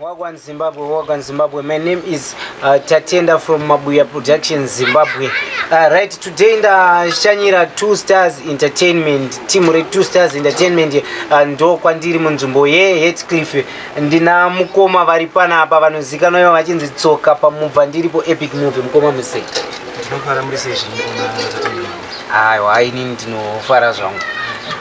Wagwan Zimbabwe, Wagwan Zimbabwe. My name is uh, Tatenda from Mabuya Productions Zimbabwe. Uh, right, today ndashanyira Two Stars Entertainment, timu re Two Stars Entertainment uh, ndo kwandiri munzvimbo ye Heathcliff. Ndina mukoma vari panapa vanozikanwa ivo vachinzi Tsoka pamubva ndiripo Epic Movie mukoma Musei. Ndinofara muri sei zvino kuna Tatenda? aiwa inini ndinofara zvangu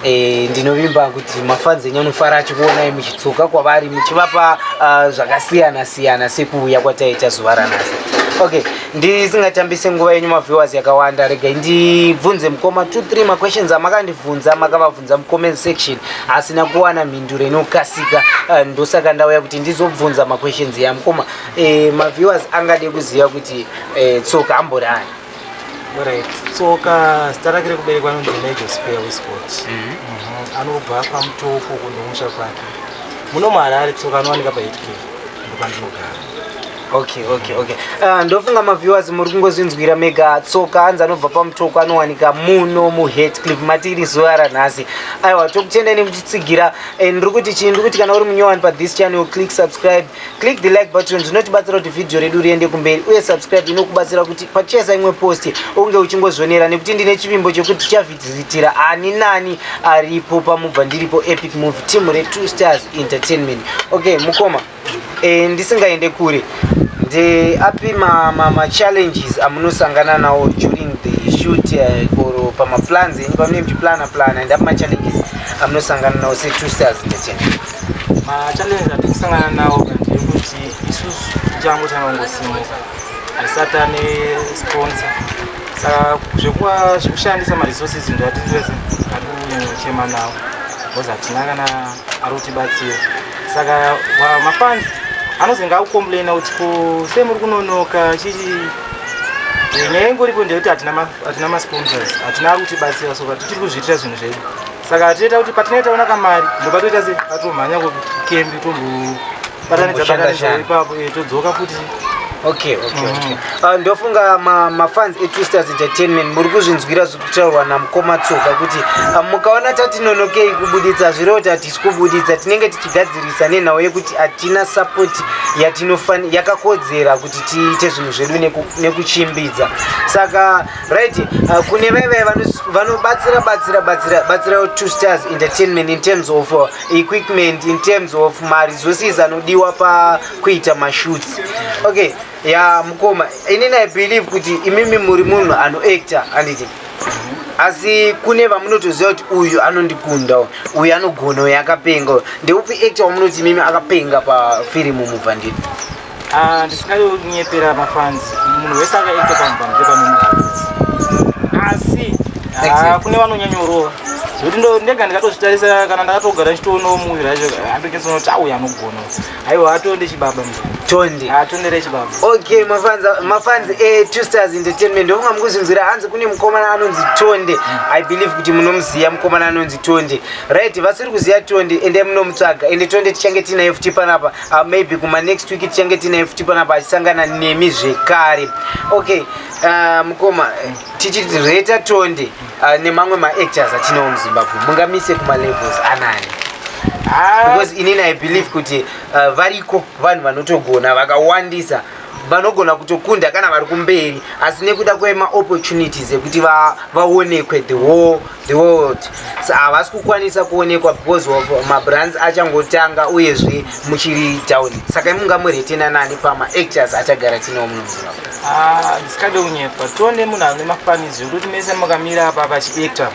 e, ndinovimba kuti mafanzi enyu anofara achikuonai muchitsuka kwavari muchivapa uh, zvakasiyana siyana sekuuya kwataita zuva ranhasi okay ndisingatambise nguva yenyu maviewers yakawanda regai ndibvunze mukoma 23 maquestions amakandibvunza makavabvunza mucomment section asina kuwana mhinduro inokasika uh, ndosaka ndauya kuti ndizobvunza maquestions yamukoma e, eh, maviewers angade kuziva kuti e, tsoka amborani Alright. Tsoka zita rake rekuberekwa anonzi Major Spare Wiscott. Mhm. Mhm. Anobva paMutoko kundomusha kwake. Muno muHarare tsoka anowanika pa 8K. Ndopandinogara. okay okay okay uh, ndofunga maviewers muri kungozvinzwira mega tsoka anzi anobva pamutoko anowanika muno muhetcliff mati iri zuva ranhasi aiwa tokutendai nekuchitsigira and ndiri kuti chii ndiri kuti kana uri munyowani pa this channel click subscribe click the like button zvinotibatsira kuti vhidhiyo redu riende kumberi uye subscribe inokubatsira kuti pacheza imwe posti unge uchingozvionera nekuti ndine chivimbo chekuti tichavhizitira ani nani aripo pamubva ndiripo epic move team retwo stars entertainment okay mukoma e, ndisingaende kure ndeapi machallenges ma, ma amunosangana nawo during the shoot eh, or uh, pamaplans enyu pamune muchiplana plana ndapi machallenges amunosangana nawo setwo stars entertainment Machallenges atiri kusangana nawo ndeyekuti isusu tichango tanongosimuka hatisati ane sponsor saka zvekuva zvekushandisa maresources ndo atiri vese ari kunyanyachema nawo because hatina kana ari kutibatsira saka mafans anozenge akucomplaina kuti ko sei muri kunonoka chii nyaya ingoripo ndeyekuti hatina masponsors hatina ari kutibatsira so ka tichiri kuzviitira zvinhu zvedu saka tiita kuti patinenge taona kamari ndopatoita se atomhanya kukembi tombobatanidza batanidza ipapo eh, todzoka futi okay okay mm. okay uh, ndofunga ma ma fans e twisters entertainment muri kuzvinzwira zvekutaurwa na mkoma tsoka kuti uh, mukaona tatinonokei kubuditsa zviro tati sikubuditsa tinenge tichigadzirisa nenhau yekuti atina support yatinofan yakakodzera kuti tiite zvinhu zvedu nekuchimbidza saka right uh, kune vaya vaya vanobatsira batsira batsira batsira two stars entertainment in terms of uh, equipment in terms of mari zosiz anodiwa pakuita mashoots okay ya mukoma inini i believe kuti imimi muri munhu anoactor anditi asi kune vamunotoziva kuti uyu anondikunda uyu anogona uyu akapenga ndeupi actor wamunoti imimi akapenga pafirimu mubva nditi Ah, ndisingayo kunyepera mafans munhu wese akaita panhu panhu pepanomuaisi asi ah, kune vanonyanyorova zvekuti ndega ndikatozvitarisa kana ndakatogara chitoono muvi racho andoketsono kuti auya anogona aiwa atonde chibaba tonde atondere ah, chibaba okay mafans etwo stars entertainment ndofunga mukuzvinzwira hanzi kune mukomana anonzi tonde hmm. i believe kuti munomuziva mukomana anonzi tonde right vasiri kuziva tonde ende munomutsvaga ende tonde tichange tiinaye futi panapa uh, maybe kuma next week tichange tinaye futi panapa achisangana nemi zvekare okay uh, mukoma tichiti reta tonde uh, nemamwe maactors atinawo muzimbabwe mungamise kumalevels anani ah. because inini i believe kuti uh, variko vanhu vanotogona vakawandisa vanogona kutokunda kana vari kumberi asi nekuda kwemaopportunities ekuti vaonekwe the whole the world so havasi kukwanisa kuonekwa because of mabrands achangotanga uyezve muchiri down saka imunga muretena nani pamaactors atagara tinawo munoziva ah, zvisikade kunyepa tione munhu ane mafanizi ekuti mese makamira apa pachiactor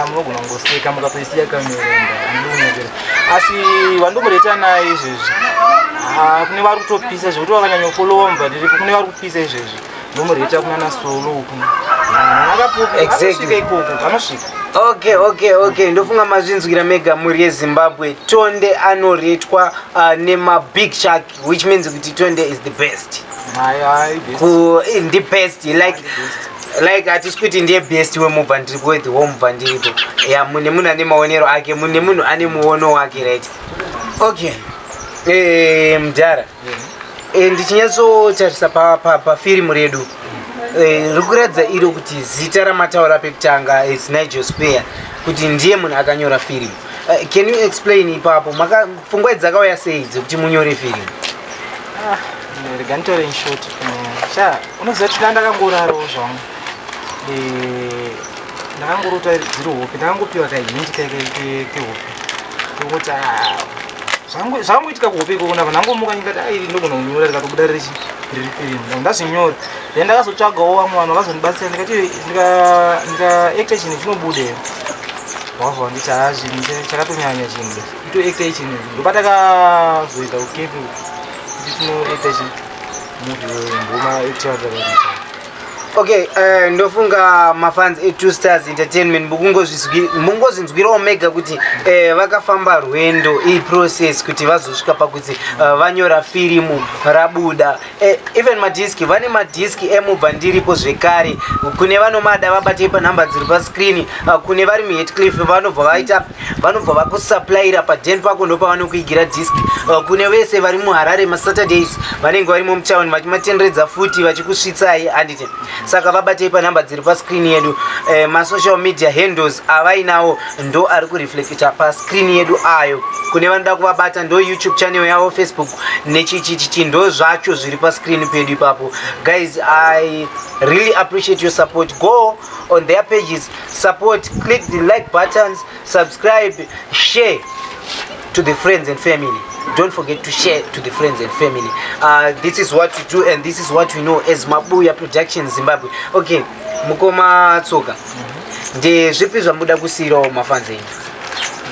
munogona kungoseka mukatoisiya kamerenda andiunyekera asi vandomureta naye izvezvi kune vari kutopisa zvekuti vakanyanyofolowa mubvadiripo kune vari kupisa izvezvi ndomureta kunana solo uku akapoasvika ikoko anosvika okay okay okay ndofunga mazvinzwira mega mhuri yezimbabwe tonde anoretwa uh, nemabig shark which means kuti tonde is the best eh, ndi best like like hatisi kuti ndiye best wemubva ndiripo wethi womubva ndiripo ya mune munhu ane maonero ake mune munhu ane muono wake right okay eh, mudhara eh, ndichinyatsotarisa pafirimu redu riri kuratidza iro kuti zita ramataura pekutanga is nigel spear kuti ndiye munhu akanyora firimu Uh, can you explain ipapo maka pfungwa idzi dzakauya sei dzekuti munyore film ah, rega nditore inshort sha unoziva kuti ndandakangorarawo zvangu eh, ndakangorota dziri hope ndakangopiwa kahindi kehope kekuti ah, zvangoitika kuhope ikoko ndava ndangomuka ndikati a ah, iri ndogona kunyora rikatobuda riri riri film ndazvinyora then ndakazotsvagawo vamwe vanhu vakazondibatsira ndikati ndikaekta chinhu chinobuda wabva wanditi haa chinhu chakatonyanya chinhu itoekta ichinhu ndobata kazoita ukepi kuti tinoekta chi muvi wemboma etiaaa okay uh, ndofunga mafans etwo stars entertainment mukungozvinzwirawo mega kuti uh, vakafamba rwendo iprocess kuti vazosvika pakuti uh, vanyora firimu rabuda Eh, even madhiski vane madhiski emubva ndiripo zvekare kune vanomada vabatei panhamba dziri pascreen ah, kune vari muhetcliff vanobva vaita vanobva vakusupplaira paden pako ndopavanokuigira disk ah, kune vese vari muharare masaturdays vanenge varimo mutown vachimatenderedza futi vachikusvitsai anditi saka vabatei panhamba dziri pascreen yedu eh, masocial media handles avainawo ndo ari kureflecta pascreen yedu ayo kune vanoda kuvabata ndo youtube channel yavo facebook nechichichichi ndo zvacho zviri pascreen pedu ipapo guys i really appreciate your support go on their pages support click the like buttons subscribe share to the friends and family don't forget to share to the friends and family uh, this is what we do and this is what we know as mabuya production zimbabwe okay mukoma tsoka ndezvipi zvamuda kusiyirawo mafanzi enyu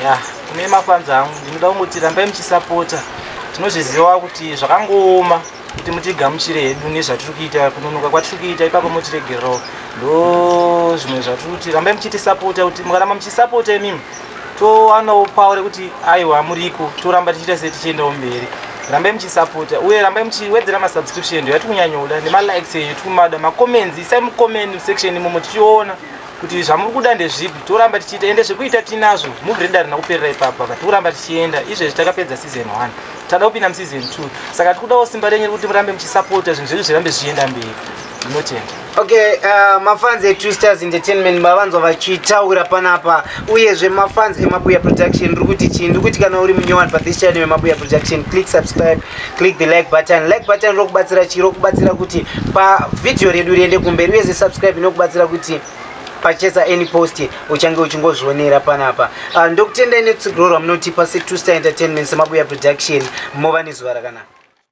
ya kune mafans angu ndinoda kungoti rambai muchisapota tinozviziva kuti zvakangooma kuti mutigamuchire hedu nezvatiri kuita kunonoka kwatiri kuita ipapo motiregererawo ndo zvimwe zvatiri kuti rambai muchitisapota kuti mukaramba muchisapota imimi towanawo pawo rekuti aiwa muriko toramba tichiita se tichiendawo mberi rambai muchisapota uye rambai muchiwedzera masubscription ndo yatiri kunyanyoda nemalikes enyu tiri kumada macomments isai mucomment section imomo tichiona kuti zvamuri kuda ndezvipi toramba tichiita ende zvekuita tinazvo muvi redu arina kuperera ipapa but kuramba tichienda izvezvi takapedza season one tada kupinda museason two saka tikudawo simba renyu rekuti murambe muchisapota zvinhu zvedu zvirambe zvichienda mberi ndinotenda okay uh, mafans etwo stars entertainment mavanzwa vachitaura panapa uyezve mafans emabuya production ndiri kuti chii ndiri kuti kana uri munyowani pathis channel emabuya production click subscribe click the like button like button rokubatsira chii rokubatsira kuti pavhidhiyo redu riende kumberi uyezve subscribe inokubatsira kuti pachesa any post uchange uchingozvionera panapa uh, ndokutendai netsigirorwa munotipa se two star entertainment semabuya production mova nezuva rakanaka